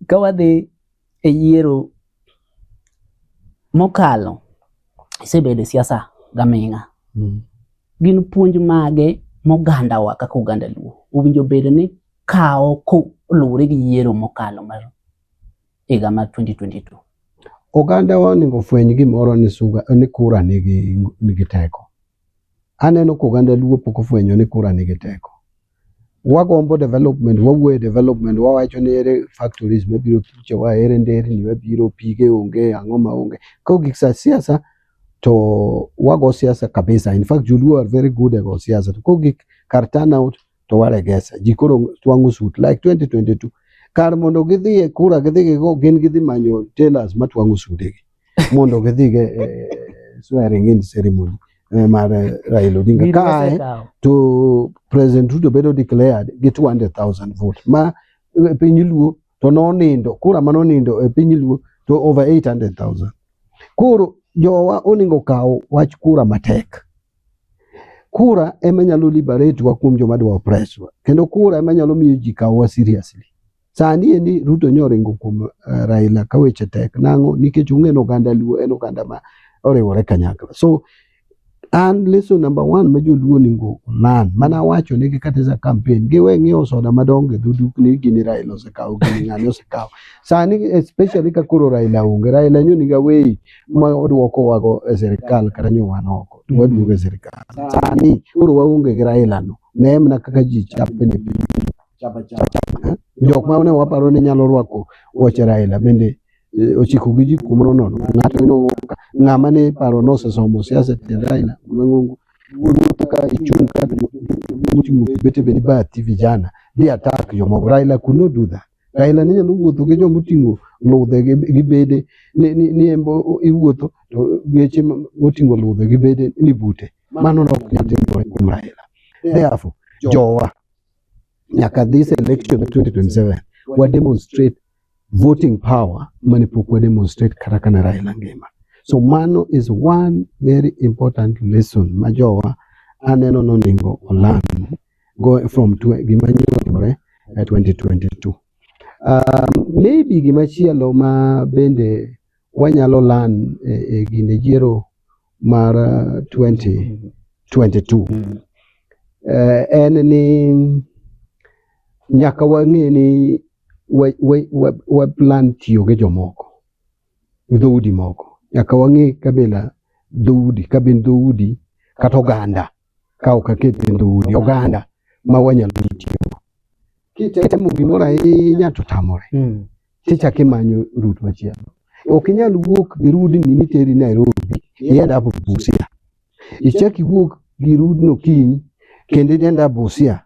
Ka wadhi e yiero mokalo, isebedo e siasa gaming'a. Mm. Gin puonj mage mogandawa kaka oganda Luo owinjo bed ni kawo koluwore gi yiero mokalo mar higa mar 2022? Ogandawa onego ofweny gimoro ni suga ni kura nigi nigi teko. Aneno ka oganda Luo pok ofwenyo ni kura nigi teko. wagombo development wawuoye development wawacho ni ere factories mabiro thuchewa ere nderni mabiro pige onge ang'o ma onge koro gik sa siasa to wago siasa kabisa in fact joluo are very good at go siasa to koro gik kar turnout to waregesa ji koro twang'o suit like 2022 kar mondo gidhi e kura gidhi gigo gin gidhi manyo tailors matwang'o sudegi mondo gidhi e, e, swearing in ceremony e, mar Raila Odinga kae to President Ruto bedo declared gi 200,000 vote ma piny Luo to nonindo kura ma nonindo e piny Luo to over 800,000 koro jowa oningo kawo wach kura matek kura ema nyalo liberate wa kuom joma dwa oppress wa kendo kura ema nyalo miyo ji kawowa seriously Sani endi Ruto nyo oringo kuom uh, Raila ka weche tek nang'o nikech ung'eno oganda Luo en oganda ma oriwore kanyakla so an lesson number one ma joluo ningo onan mana wacho negi kata za campaign giwe ng'iewo soda madongo e dhudukni gini Raila osekawo gini ng'ani osekawo sani especially ka koro Raila onge Raila nyo niga weyi ma odwoko wago e sirikal kata nyo wan oko to waduogo e sirikal sani koro waonge gi Raila no ne mana kaka ji chapni chapa chapa. Jok ma ne waparo ni nyalo rwako wuoche Raila bende eh, ochiko gi ji kuom rono ng'ato ino ng'ama ne paro nosesomo siasa tiend Raila mang'ongo wuotho ka ichung' ka muchung' bete bende bathi vijana di attack jomoko Raila could not do that Raila ne nyalo wuotho gi joma oting'o ludhe gi- gi bede ni- ni ni en bo- iwuotho to geche ma- moting'o ludhe gi bede ni bute mano ne ok nyal timore kuom Raila therefore jowa nyaka this election 2027 wa demonstrate voting power mane pok wa demonstrate kata kana Raila ngima. So mano is one very important lesson ma jowa aneno noningo olam go from gima nyore at 2022. Um, maybe gima chielo ma bende wanyalo lan e, e gine yiero mar 2022 uh, mm-hmm. eh, en ni nyaka wang'e ni waplan tiyo gi jomoko dhoudi moko nyaka wang'e kabila dhoudi kabin dhoudi kata oganda ka ok aket e dhoudi oganda ma wanyalo tiyo kitemo gimoro ahinya to tamore mm. tichak imanyo rut machielo ok inyal wuok gi rudni niteri nairobi ienda apo busia ichak iwuok gi rudno kiny kendo idenda busia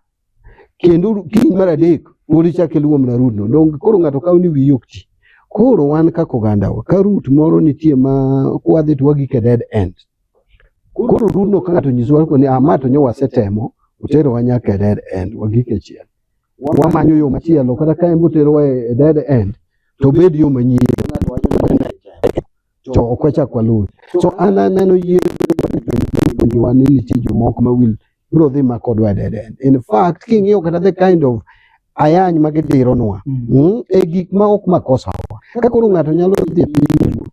Kendo kiny mar adek pod ichak iluwo mana rudno. Donge koro ng'ato kawo ni wiyi ok ti. Koro wan kaka ogandawa, ka rut moro nitie ma kwadhi to wagik e dead end. Koro rudno ka ng'ato nyisowa koni ah ma to nyo wasetemo, oterowa nyaka e dead end, wagik e chiel. Wamanyo yo machielo kata ka en boterowa e e dead end to obed yo manyien. to ok wachak waluwe. So an aneno yie puonjowa ni nitie jomoko ma wil biro dhi ma kodwa dead end. In fact, king'iyo kata the kind of ayany ma gidironwa mm. mm, e gik ma ok makosa wa. Ka koro ng'ato nyalo dhi e piny luo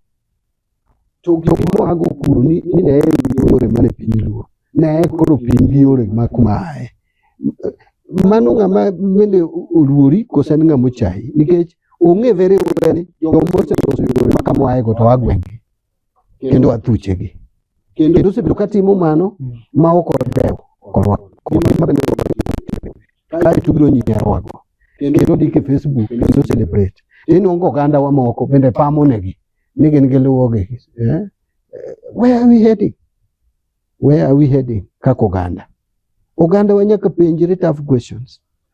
to gik moago kuro ni ne yore mane piny luo ne koro piny gi yore ma kuma aye mano ng'ama bende oluori kose en ng'ama ochayi nikech ong'e very well ni joma oseloso yore ma kama oaego to agwenge kendo athuchegi kendo osebedo katimo mano ma ok odewo korwa gima bende kae tubiro nyinyarowago kendo ndik e facebook kendo celebrate inongo oganda wa moko bende pamonegi ni gin giluwogi eh? where are we heading Where are we heading kaka oganda? Oganda wa nyaka penjre tough questions.